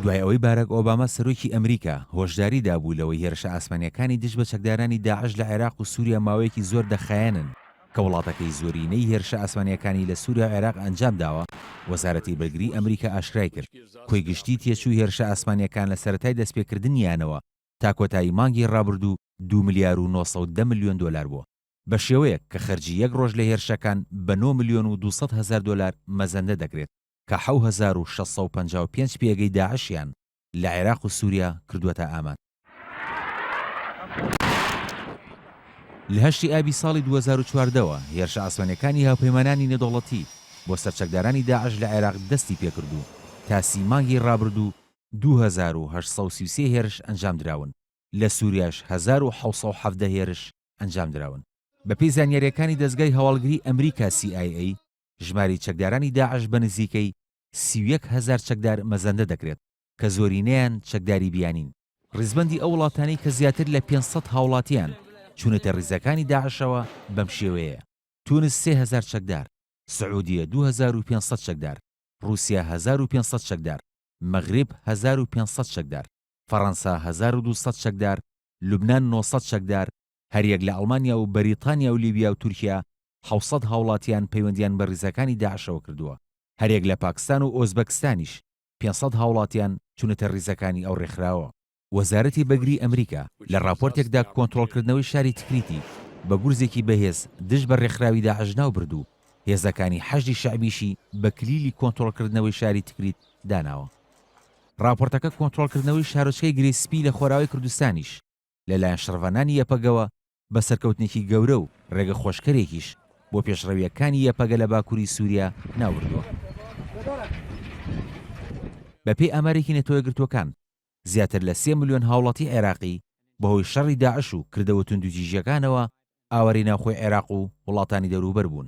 دوای ئەوەی باراک ئۆباما سەرۆکی ئەمریکا، هۆشداری دابوو لەوەی هێرشە ئاسمانییەکانی دژ بە چەکدارانی داعش لە عێراق و سووریا ماوەیەکی زۆر دەخایەنن، کە وڵاتەکەی زۆرینەی هێرشە ئاسمانییەکانی لە سووریا و عێراق ئەنجام داوە، وەزارەتی بەرگریی ئەمریکا ئاشکرای کرد، کۆی گشتیی تێچووی هێرشە ئاسمانییەکان لە سەرەتای دەستپێکردنیانەوە تا کۆتایی مانگی ڕابردوو دوو ملیار و نۆ سەد و دە ملیۆن دۆلار بووە. بە شێوەیەک کە خەرجی یەک ڕۆژ لە هێرشەکان بە نۆ ملیۆن و دوو سەد هەزار دۆلار مەزەندە دەکرێت کە حەو هەزار و شەش سەد و پەنجا و پێنج پێگەی داعشیان لە عێراق و سوریا کردووەتە ئامانج. لە هەشتی ئابی ساڵی دوو هەزار و چواردە وە هێرشە ئاسمانیەکانی هاوپەیمانانی نێدەوڵەتی بۆ سەر چەکدارانی داعش لە عێراق دەستی پێکرد و تا سی مانگی ڕابردوو دوو هەزار و هەشت سەد و سی و سێ هێرش ئەنجامدراون لە سوریاش هەزار و حەوت سەد و حەڤدە هێرش ئەنجامدراون. بەپێی زانیارییەکانی دەزگای هەواڵگری ئەمریکا CIA، ژمارەی چەکدارانی داعش بە نزیکەی سی و یەک هەزار چەکدار مەزەندە دەکرێت، کە زۆرینەیان چەکداری بیانین. ڕیزبەندی ئەو وڵاتانەی کە زیاتر لە پێنج سەد هاوڵاتییان چوونەتە ڕیزەکانی داعشەوە بەم شێوەیەیە، تونس سێ هەزار چەکدار، سعودیە دوو هەزار و پێنج سەد چەکدار، ڕووسیا هەزار و پێنج سەد چەکدار، مەغرب هەزار و پێنج سەد چەکدار. فەڕەنسا هەزار و دوو سەد چەکدار، لوبنان نۆ سەد چەکدار، هەریەک لە ئەڵمانیا و بەریتانیا و لیبیا و تورکیا حەوت سەد هاوڵاتیان پەیوەندیان بە ڕیزەکانی داعشەوە کردووە، هەریەک لە پاکستان و ئۆزبەکستانیش پێنج سەد هاوڵاتیان چونەتە ڕیزەکانی ئەو ڕێکخراوە. وەزارەتی بەگری ئەمریکا لە ڕاپۆرتێکدا کۆنترۆڵکردنەوەی شاری تکریتی بە گورزێکی بەهێز دژ بە ڕێکخراوی داعش ناوبرد و هێزەکانی حەشدی شەعبیشی بە کلیلی کۆنترۆڵکردنەوەی شاری تکریت داناوە. ڕاپۆرتەکە کۆنترۆڵکردنەوەی شارۆچکەی گرێ سپی لە خۆراوای کوردستانیش لەلایەن شڕڤانانی یەپەگەوە بە سەرکەوتنێکی گەورە و ڕێگەخۆشکەرێکیش بۆ پێشڕەوییەکانی یەپەگە لە باکووری سووریا ناوبردووە. بەپێی ئامارێکی نەتەوەیەکگرتووەکان، زیاتر لە سێ ملیۆن هاوڵاتی عێراقی بەهۆی شەڕی داعش و کردەوە توندوتیژییەکانەوە ئاوارەی ناوخۆی عێراق و وڵاتانی دەوروبەر بوون.